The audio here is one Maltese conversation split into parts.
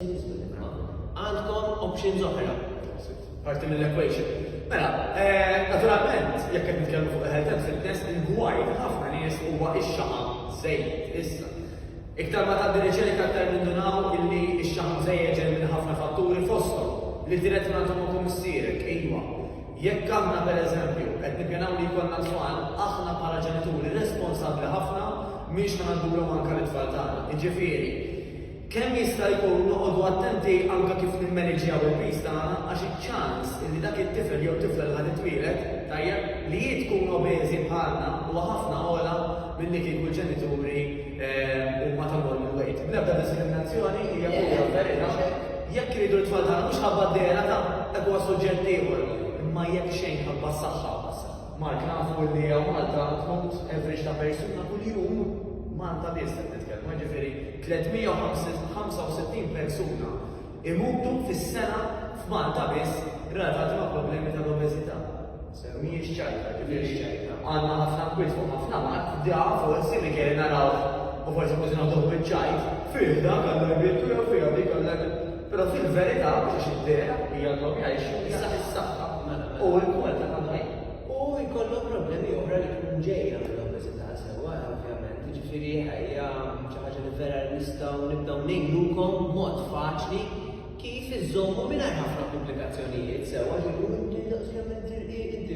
Għandkom options oħra, parti mill-equation. Mela, eh, naturalment, jekk qed nitkellmu fuq health and fitness, il-gwaj ħafna nies huwa ix-xaqa żejjed issa. Iktar ma tgħaddi riċerka aktar nindunaw illi x-xaqa żejjed ġej minn ħafna fatturi fosthom li tiret ma tkun ukoll missierek, iva. Jekk aħna pereżempju qed nippjanaw li jkollna tfal, aħna bħala ġenituri responsabbli ħafna miex ħanadulhom anke l-tfal tagħna. Jiġifieri, Kemm jista' jkun noqogħdu attenti anke kif nimmeniġjaw il-piż tagħna għax iċ-ċans li dak it-tifel jew tifla li ħa titwieled, tajjeb, li hi tkun obeżi bħalna huwa ħafna ogħla milli kieku l-ġenituri huma ta' normal weight. Bl-ebda diskriminazzjoni, hija pura verità. Jekk iridu t-tfal tagħna mhux ħabba d-dehra ta' dak huwa suġġett ieħor, imma jekk xejn ħabba s-saħħa. Mark, nafu li hawn Malta tmut average ta' persuna kuljum, Malta biss qed nitkellmu, jiġifieri, 365 persuna jmutu fis-sena f'Malta biss relatati ma' problemi tal-obeżità. Sew mhijiex ċajta, kifiex ċajta? Għandna ħafna kwiet fuq ħafna mard, da forsi Michele narawh u forsi kważi nagħtuh biċ-ċajt. Fih dak Alla jbierku jew fiha dik Alla jbierku. Però fil-verità, mhux għax id-dehra hi għandhom jgħixu, iżda is-saħħa u l-kwalità tal-ħajja. U jkollhom problemi oħra li tkun ġejja mill-obeżità. Sewwa, ovvjament, jiġifieri hija xi ħaġa li vera nistgħu nibdew ngħinukom b'mod faċli kif iżżommu mingħajr ħafna komplikazzjonijiet sewwa li jkun ovvjament irqid.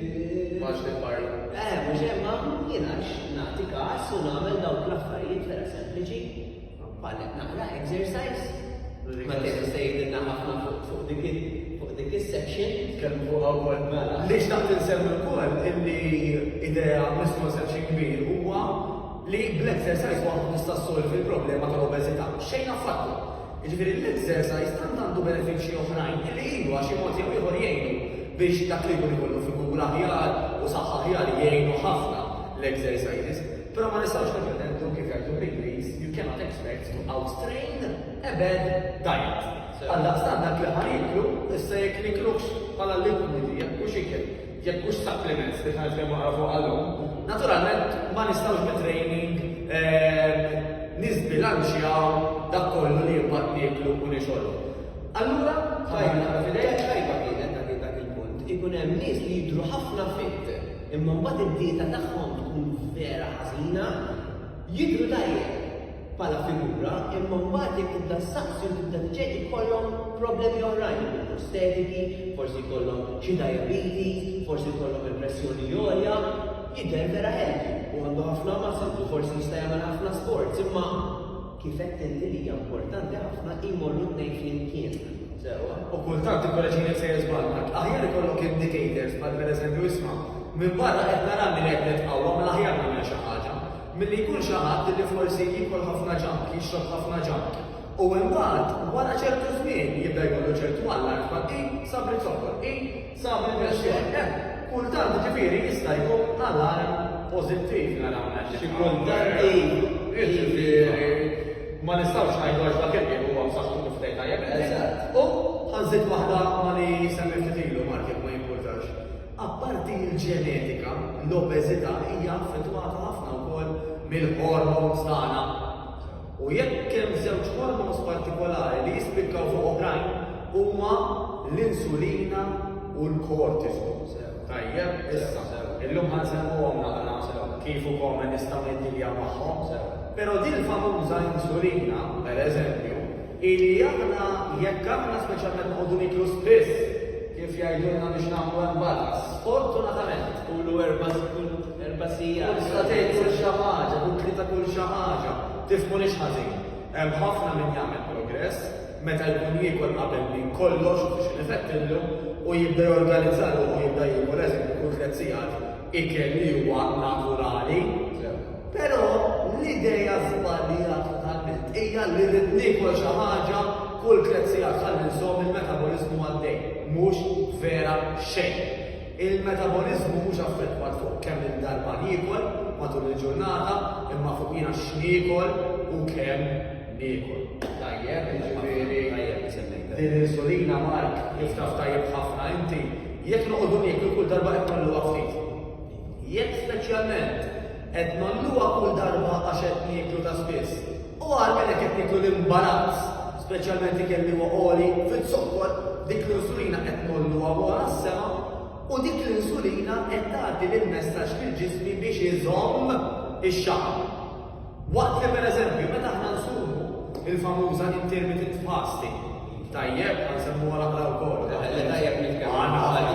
Max li parla. Eh, mhux hemm ma jiena nagħti każ u nagħmel dawk l-affarijiet vera sempliċi. Għadet naqra exercise. Ma kienet se jgħidilna ħafna fuq dik fuq dik is-section. Kemm fuq wkoll mela. Li xtaqt insemmi wkoll illi idea mismu section kbir huwa li bl-exercise waħdu tista' ssolvi l-problema tal-obeżità. Xejn affattu. Jiġifieri l-exercise tant għandu benefiċċji oħrajn illi ilu għax xi mod jew ieħor jgħinu biex dak li jkun ikollu figura aħjar u saħħa aħjar jgħinu ħafna l-exercises. Però ma nistgħux nippretendu, kif jgħidu bl-Ingliż, you cannot expect to out-train a bad diet. Għaldaqstant dak li ħa nieklu, issa jekk niklux bħala liquid, jekk mhux ikel, jekk mhux supplements li ħa nitkellmu aħna fuqha llum, naturalment ma nistgħux bit-training niżbilanċjaw dak kollu li mbagħad nieklu u nixorbu. Allura, tajna f'idejk tajba kienet dak il-punt, ikun hemm nies li jidhru ħafna fit, Imma mbagħad id-dieta tagħhom tkun vera ħażina, jidhru tajjeb bħala figura imma mbagħad jekk tibda ssaqsi u tibda tiċċekk ikollhom problemi oħrajn ikun prostetiki, forsi jkollhom xi diabetes, forsi jkollhom il-pressjoni għolja, jidher vera healthy u għandu ħafna muscles u forsi jista' jagħmel ħafna sports imma Kif għedt inti li hija importanti ħafna jmorru t-tnejn flimkien. Sewwa. U kultant ikkoreġini jekk sejjer żball, Mark. Aħjar ikollok indicators bħal pereżempju isma', minn barra qed nara li qed nitqawwa mela aħjar nagħmel xi ħaġa. Milli jkun xi ħadd li forsi jiekol ħafna junk, jixrob ħafna junk. U imbagħad wara ċertu żmien jibda jkollu ċertu allarm bħal, Ih, sabri zokkor, ih! Sa fil-pensjoni, hemm kultant ġifieri jista' jkun alarm pożittiv naraw hekk. Xi kultant iva. Jiġifieri ma nistgħux ngħidu għax dak il-qiem huwa b'saħħtu kif tgħid tajjeb inti. Eżatt. U ħa nżid waħda ma' li semmiet ftit ilu Mark jekk ma jimpurtax. Apparti l-ġenetika, l-obeżità hija affettwata ħafna wkoll mill-hormones tagħna. U jekk hemm żewġ hormones partikolari li jispikkaw fuq oħrajn, huma l-insulina u l-cortisol. Sew. Tajjeb, issa. Sew. Illum ħa nsemmuhom naqra. Sew. Kif u kome nistgħu niddiljaw magħhom. Sew. Però din famuża insulina, per eżempju, hi li aħna jekk aħna speċjalment noqogħdu niklu spiss, kif jgħidulna biex nagħmlu hemm balance, sfortunatament, Qulu erba' snin. Erba' sigħat. Kull satejn, kull xi ħaġa, kull tlieta kull xi ħaġa. Tifhmunix ħażin. Hemm ħafna min jagħmel progress meta jkun jiekol qabel minn kollox u xi nifettillu u jibda jorganizza ruħu u jibda jiekol eżempju kull tliet sigħat ikel li huwa naturali. Sew. Però l-idea żbaljata totalment hija li rrid niekol xi ħaġa kull tliet sigħat ħalli nżomm il-metaboliżmu għaddej. Mhux vera xejn. Il-metaboliżmu mhux affettwat fuq kemm il-darba niekol matul il-ġurnata imma fuq jiena x'niekol u kemm niekol. Tajjeb, jiġifieri din l-insulina Mark kif taf tajjeb ħafna inti, jekk noqogħdu nieklu kull darba qed ngħolluha ftit. Jekk speċjalment. Qed ngħolluha kull darba għax qed nieklu ta' spiss. U għal minn hekk qed nieklu l-imbarazz, speċjalment ikel li huwa għoli fiz-zokkor, dik l-insulina qed ngħolluha wara s-sema u dik l-insulina qed tagħti l-messaġġ lill-ġismi biex iżomm ix-xaħam. Waqt li pereżempju meta aħna nsumu il-famuża intermittent fasting, tajjeb, għansemmuha l-aqra wkoll. Tajjeb nitkellmu. Għandna għalija.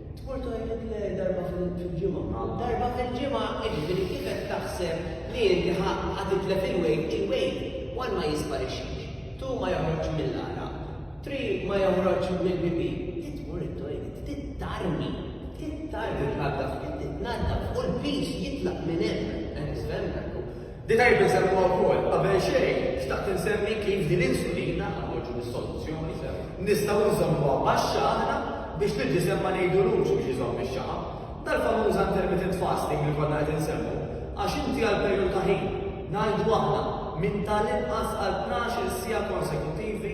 Tmur toilet le darba fil-ġimgħa. Darba fil-ġimgħa jiġifieri kif qed taħseb li inti ħa titlef il-wejt, il-wejt one ma jisparixxix, two ma joħroġx mill-għaraq, three ma joħroġx mill-pipì. Trid tmur it-toilet, trid tarmi, trid tarmi, tnaddaf, trid titnaddaf u l-piż jitlaq minn hemm. Tifhem? Li tajjeb insemmhuha wkoll, qabel xejn xtaqt insemmi kif din insulina, noħorġu mis-soluzzjoni, nistgħu nżommuha baxxa aħna biex l-ġisem ma ngħidulux biex iżomm ix-xaħam. Dal-famuża intermittent fasting li konna qed insemmu, għax inti għal perijodu ta' ħin, ngħidu aħna, minn tal-inqas għal tnax-il siegħa konsekuttivi,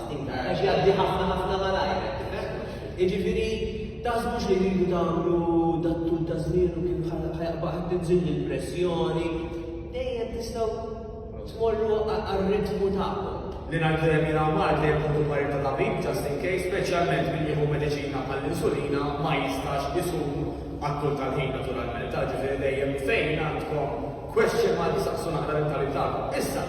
Intar, għax jgħaddi ħafna ħafna malajr, qed tifhem? Jiġifieri taħsbux li rridu tagħmlu dat-tul ta' żmien u kif ħajaqba' qed tinżil il-pressjoni. Dejjem tistgħu tmorru għar-ritmu tagħkom. Li ngħidu dejjem jiena mard li jekk tkun marid ta' tabib just in case, speċjalment min jieħu mediċina bħall-insulina ma jistax isum għat-tul tal-ħin naturalment, ġifieri dejjem fejn għandkom question mark saqsu naqra l-ittabi tagħkom. Issa,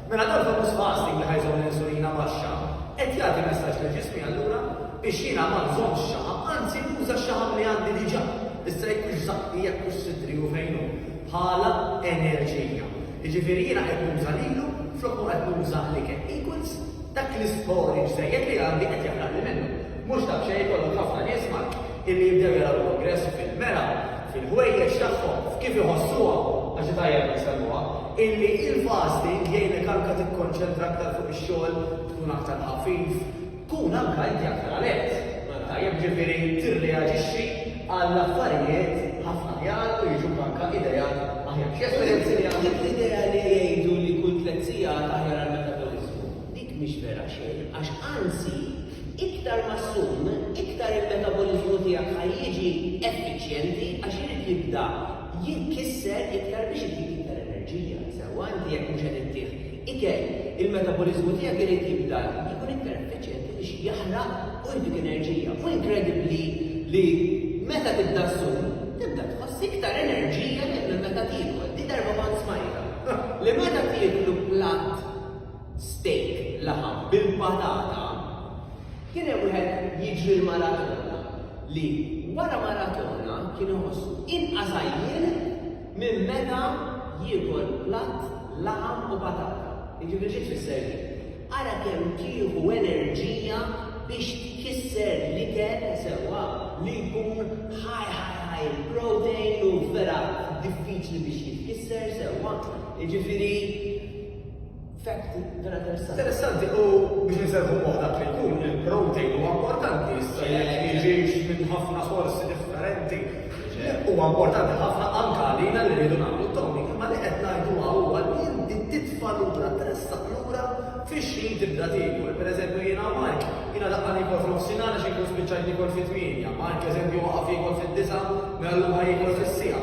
Mela dan famuż fasting li ħa jżomm l-insulina baxxa qed jagħti messaġġ lill-ġismi allura biex jiena ma nżommx xaħam, anzi nuża x-xaħam li għandi diġà, issa jekk hux żaqqi, jekk hux sidri u fejn hu, bħala enerġija. Jiġifieri jiena qed nuża lilu flok ma qed nuża l-ikel. Equals dak l-istorage żejjed li għandi qed jaħraqli minnu. Mhux daqsxejn ikollok ħafna nies Maltin illi jibdew jaraw progress fil-mera, fil-ħwejjeġ tagħhom, f'kif iħossuha, għax hi tajjeb li nsemmuha, illi il-fasting jgħinek anke tikkonċentra aktar fuq ix-xogħol, tkun aktar ħafif, kun anke inti aktar alert, tajjeb, ġifieri tirreaġixxi għal affarijiet ħafna aħjar u jiġuk anke ideat aħjar. Xi esperjenzi li għandek? Dik l-idea li jgħidu li kull tliet sigħat aħjar għall-metabolizmu, dik mhix vera xejn, għax anzi, Iktar ma ssum, iktar il-metaboliżmu tiegħek ħa jiġi effiċjenti għax irid jibda jitkisser iktar biex itik iktar enerġija. Sewwa, inti jekk mhux qed ittih ikel, il-metaboliżmu tiegħek irid jibda jkun iktar effiċjenti biex jaħraq u jtik enerġija. Hu inkredibbli li meta tibda ssum, tibda tħoss iktar enerġija milli meta tiekol. Dik darba kont smajtha li meta tieklu platt, steak, laħam, bil-patata, kien hemm wieħed jiġri l-maratona li wara maratona kien iħossu inqas għajjien minn meta jiekol platt laħam u patata. Jiġifieri xi tfisser din? Ara kemm tieħu enerġija biex tkisser l-ikel sewwa li jkun high high high in protein u vera diffiċli biex jitkisser sewwa. Jiġifieri Fatti, vera interessanti. Interessanti u biex nserħu fuq dak li jkun il-protein huwa importanti issa jekk jiġix minn ħafna sorsi differenti. Huwa importanti ħafna anke għalina li rridu nagħmlu tomi, imma li qed ngħidu huwa li inti titfa' lura tressaq lura fix-xħin tibda tiekol. Pereżempju jiena u Mark, jiena laqqa' niekol f'nofsinhar għax inkun spiċċajt niekol fit-tmienja, Mark eżempju waqaf jiekol fid-disgħa, mela llum ħa jiekol fis-siegħa.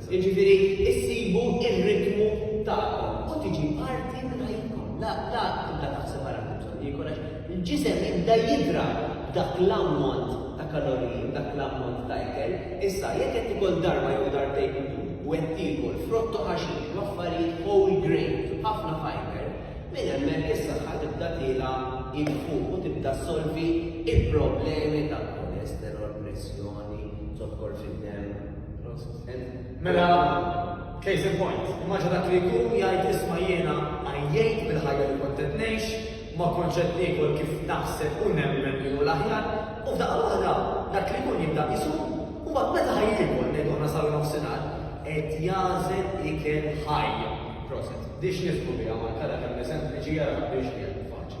Jiġifieri issibu r-ritmu tagħkom u tiġi parti minn ħajjitkom. La, la tibda taħseb ara kemm bżonn niekol għax il-ġisem jibda jidra b'dak l-ammont ta' kaloriji, b'dak l-ammont ta' ikel. Issa, jekk qed tikol darba jew darbtejn kuljum u qed tiekol frott u ħaxix u affarijiet whole grain b'ħafna fibre, minn hemmhekk is-saħħa tibda tiela' id fuq u tibda ssolvi l-problemi ta' kolesterol, pressjoni, zokkor fid-demm. Mela, case in point, immaġa dak li jkun jgħid isma jiena għajjejt bil-ħajja li kont qed ngħix, ma kontx qed niekol kif naħseb u nemmen li hu l-aħjar, u f'daqqa waħda dak li jkun jibda isu, u mbagħad meta ħajjiekol ngħidu aħna saru nofsinhar, qed jażel ikel ħaj. Proset. Dix nifhmu biha ma kara kemm sempliċi jara biex